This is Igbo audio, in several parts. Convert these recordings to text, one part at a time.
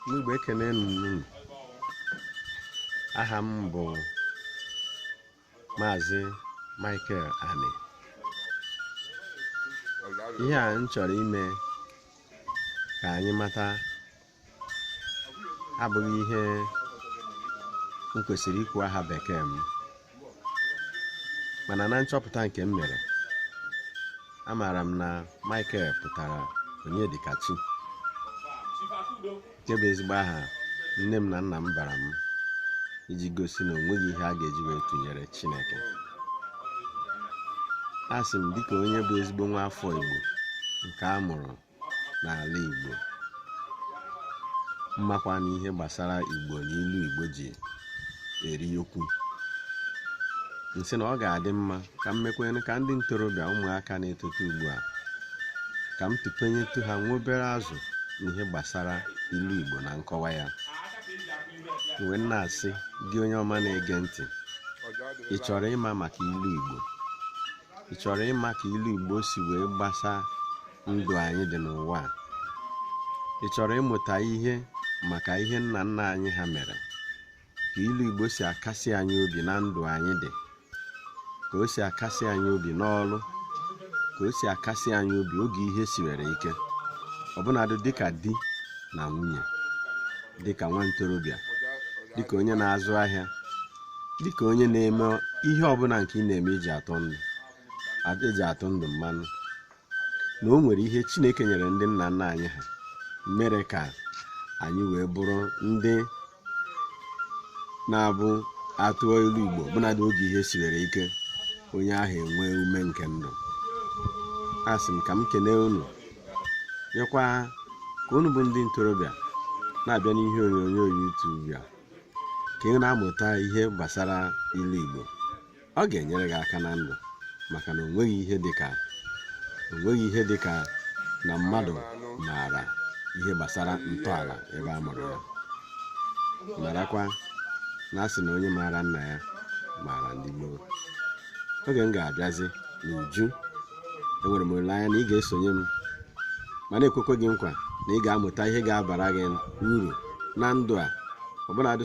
ndị Igbo ekene m unu aha m bụ maazị Michael Ani ihe a m chọrọ ime ka anyị mata abụghị ihe m kwesịrị ikwu aha bekee m mana na nchọpụta nke m mere amaara m na Michael pụtara Onyedikachi nke bụ ezigbo aha nne m na nna m bara m iji gosi na onweghị ihe a ga-eji wee tụnyere Chineke asị m dịka onye bụ ezigbo nwa afọ Igbo nke a mụrụ n'ala Igbo m makwa na ihe gbasara Igbo na ilu Igbo ji eri okwu m sị na ọ ga-adị mma ka m mekwanụ ka ndị ntorobịa ụmụaka na-etote ugbu a ka m tụpenyetụ ha nwa obere azụ n'ihe gbasara ilu Igbo na nkọwa ya m wee na-asị gị onye ọma na-ege ntị ị chọrọ ịma maka ilu Igbo ị chọrọ ịma ka ilu igbo si wee gbasa ndụ anyị dị n'ụwa a? ị chọrọ ịmụta ihe maka ihe nna nna anyị ha mere ka ilu igbo si akasi anyị obi na ndụ anyị dị ka o si akasi anyị obi n'ọrụ ka o si akasi anyị obi oge ihe siwere ike ọbụnadụ dịka di na nwunye dịka nwa ntorobịa dịka onye na-azụ ahịa dịka onye na-eme ihe ọbụla nke ị na-eme iji atụ ndụ eji atụ ndụ mmanụ na o nwere ihe chineke nyere ndị nna nna anyị ha mere ka anyị wee bụrụ ndị na-abụ a tụọ ilu igbo ọbụnadụ oge ihe siwere ike onye ahụ enwee ume nke ndụ asị m ka m kelee unu mekwa ka unu bụ ndị ntorobịa na-abịa n'ihe onyonyo YouTube a ka ị na-amụta ihe gbasara ilu Igbo ọ ga-enyere gị aka na ndụ maka na onweghị ihe dịka na mmadụ maara ihe gbasara ntọala ebe a mụrụ ya marakwa na a sị na onye maara nna ya maara ndị gboo oge m ga-abịazi n'uju enwere m olileanya na ị ga-esonye m ma na-ekwekwa gị nkwa na ị ga-amụta ihe ga-abara gị uru na ndụ a ọbụladị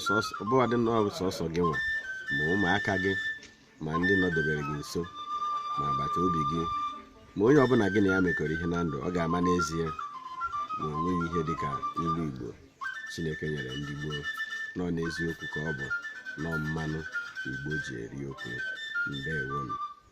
sọsọ gị nwa ma ụmụaka gị ma ndị nọdebere gị nso ma agbata obi gị ma onye ọbụla gị na ya mekọrọ ihe na ndụ ọ ga-ama n'ezie na onweghị ihe dị ka ilu igbo chineke nyere ndị gboo na ọ n'eziokwu ka ọ bụ na ọ mmanụ igbo ji eri okwu ndewonụ